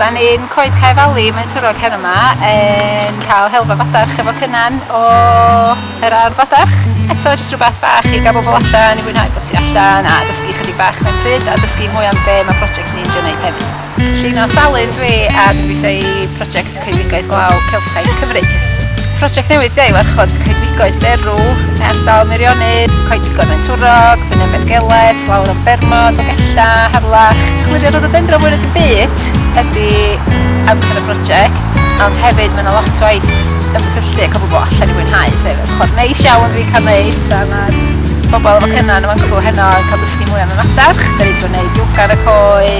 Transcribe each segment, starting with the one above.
Da ni'n coed Cae Fali, mae'n twrog her yma, yn cael helfa fadarch efo cynnan o yr ardd fadarch. Eto, jyst rhywbeth bach i gael bobl allan, i fwynhau bod ti allan, a dysgu chydig bach mewn pryd, a dysgu mwy am be mae prosiect ni'n drio wneud hefyd. Llun o salyn dwi, a dwi'n gweithio i prosiect Coedwigoedd Glaw Celtaidd Cymru. Prosiect newydd yw warchod coedwigoedd derw, ardal Meirionnydd, coedwigoedd Faentwrog, Brynau Beddgellet, lawr o Bermod, Ogella, Harlach. Clirio rhododendron mwy nag y byd ydy amser y prosiect, ond hefyd mae yna lot o waith ymgysylltu ac o bobl allan i fwynhau, sef yr ochr neis iawn dwi'n cael neud, a mae'r bobl efo cynnan yn mancw heno yn cael dysgu mwy am y madarch, da ni wedi bod yn neud yoga ar y coed,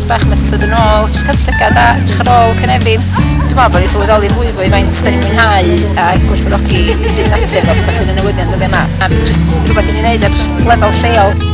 Tipyn bach mesllyd yn ôl, jyst cael llygad a edrych ar ôl cynefin. Dwi'n meddwl bod ni'n sylweddoli fwy fwy faint da ni'n mwynhau a gwerthfawrogi byd natur fel pethau sy'n y newyddion dyddiau yma. A jyst rhywbeth i ni'n neud ar lefel lleol.